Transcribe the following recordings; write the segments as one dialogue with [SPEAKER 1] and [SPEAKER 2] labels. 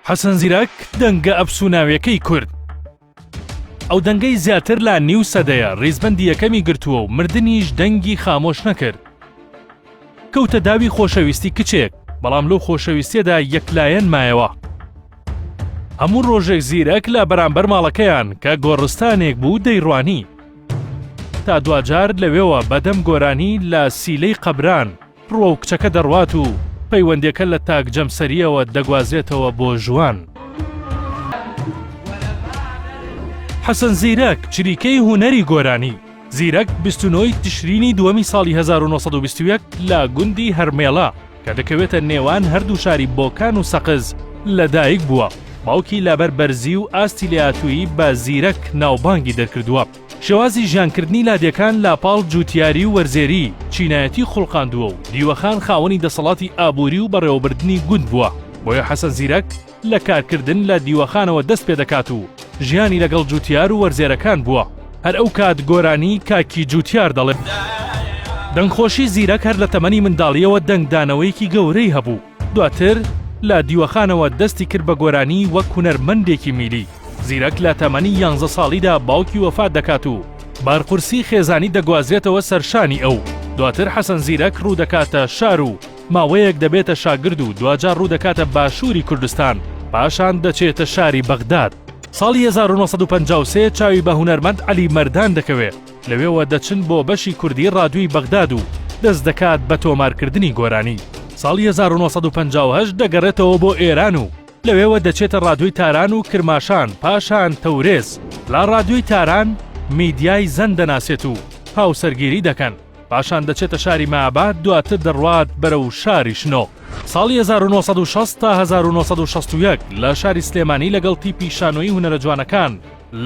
[SPEAKER 1] حەسەن زیرەک دەنگە ئەفسوناویەکەی کورد ئەو دەنگەی زیاتر لە نیو سەدەیە ڕیزبەندی یەکەمی گرتووە و مردنیش دەنگی خامۆش نەکرد کەوتە داوی خۆشەویستی کچێک بەڵام لەو خۆشەویستێدا یەکلایەن مایەوە هەموو ڕۆژێک زیرەک لە بەرامبەر ماڵەکەیان کە گۆڕستانێک بوو دەیڕوانی تا دواجار لەوێوە بەدەم گۆرانی لە سیلەی قەبران بڕۆ و کچەکە دەڕوات و پەیوەندێکە لە تاک جەمسەرییەوە دەگوازرێتەوە بۆ ژوان. حەسەن زیرەک چریکەی هونەری گۆرانی، زیرەک بیست و نۆی تشرینی دووەمی ساڵی هەزار و نۆ سەد و بیست و یەک لە گوندی هەرمێڵە کە دەکەوێتە نێوان هەردوو شاری بۆکان و سەقز لە دایک بووە، باوکی لەبەر بەرزی و ئاستی لێهاتوویی بە زیرەک ناوبانگی دەرکردووە. شێوازی ژیانکردنی لادێکان لاپاڵ جووتیاری و وەرزێری، چینایەتی خوڵقاندووە و دیوەخان خاوەنی دەسەڵاتی ئابووری و بەڕێوەبردنی گوند بووە، بۆیە حەسەن زیرەک لە کارکردن لە دیوەخانەوە دەست پێ دەکات و ژیانی لەگەڵ جووتیار و وەرزێرەکان بووە، هەر ئەو کات گۆرانی کاکی جووتیار دەڵێت. دەنگخۆشی زیرەک هەر لە تەمەنی منداڵییەوە دەنگدانەوەیەکی گەورەی هەبوو، دواتر لە دیوەخانەوە دەستی کرد بە گۆرانی وەک هونەرمەندێکی میلی. زیرەک لە تەمەنی یانزە ساڵیدا باوکی وەفات دەکات و بارقورسی خێزانی دەگوازرێتەوە سەر شانی ئەو. دواتر حەسەن زیرەک ڕوودەکاتە شار و ماوەیەک دەبێتە شاگرد و دواجار ڕوودەکاتە باشووری کوردستان، پاشان دەچێتە شاری بەغداد. ساڵی هەزار و نۆ سەد و پەنجا و سێ چاوی بە هونەرمەند عەلی مەردان دەکەوێ، لەوێوە دەچن بۆ بەشی کوردی ڕادیۆی بەغداد و دەست دەکات بە تۆمارکردنی گۆرانی. ساڵی هەزار و نۆ سەد و پەنجا و هەشت دەگەڕێتەوە بۆ ئێران و لەوێوە دەچێتە ڕادیۆی تاران و کرماشان، پاشان تەورێز. لە ڕادیۆی تاران میدیای زەن دەناسێت و هاوسەرگیری دەکەن. پاشان دەچێتە شاری مەهاباد، دواتر دەڕوات بەرەو شاری شنۆ. ساڵی هەزار و نۆ سەد و شەست تا هەزار و نۆ سەد و شەست و یەک لە شاری سلێمانی لەگەڵ تیپی شانۆیی هونەرە جوانەکان،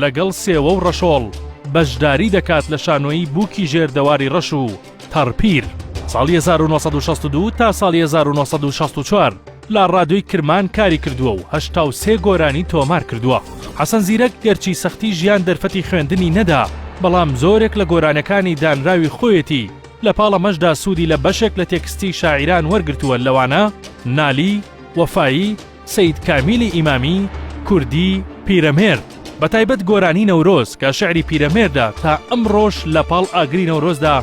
[SPEAKER 1] لەگەڵ سێوە و ڕەشۆڵ بەشداری دەکات لە شانۆیی بووکی ژێر دەواری ڕەش و تەڕپیر ساڵی 1962 تا ساڵی 1964 لە ڕادیۆی کرمان کاری کردووە و هەشتا و سێ گۆرانی تۆمار کردووە حەسەن زیرەک گەرچی سەختی ژیان دەرفەتی خوێندنی نەدا بەڵام زۆرێک لە گۆرانەکانی دانراوی خۆیەتی لە پاڵ ئەمەشدا سوودی لە بەشێک لە تێکستی شاعیران وەرگرتووە لەوانە نالی وەفایی سەید کامیلی ئیمامی، کوردی، پیرەمێرد، بە تایبەت گۆرانی نەورۆز کە شعری پیرەمێردە تا ئەمڕۆش لە پاڵ ئاگری نەورۆزدا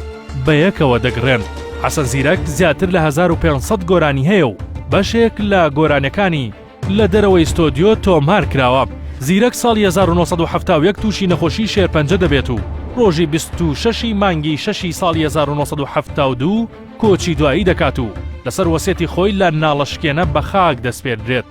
[SPEAKER 1] بە یەکەوە دەگڕێن. حەسەن زیرەک زیاتر لە هەزار و پێنج سەد گۆرانی هەیە و بەشێک لە گۆرانیەکانی لە دەرەوەی ستۆدیۆ تۆمار کراوە. زیرەک ساڵی هەزار و نۆ سەد و حەفتا و یەک تووشی نەخۆشی شێرپەنجە دەبێت و ڕۆژی بیست و شەش ی مانگی شەشی ساڵی هەزار و نۆ سەد و حەفتا و دوو، کۆچی دوایی دەکات و لەسەر وەسێتی خۆی لە ناڵەشکێنە بە خاک دەسپێردرێت.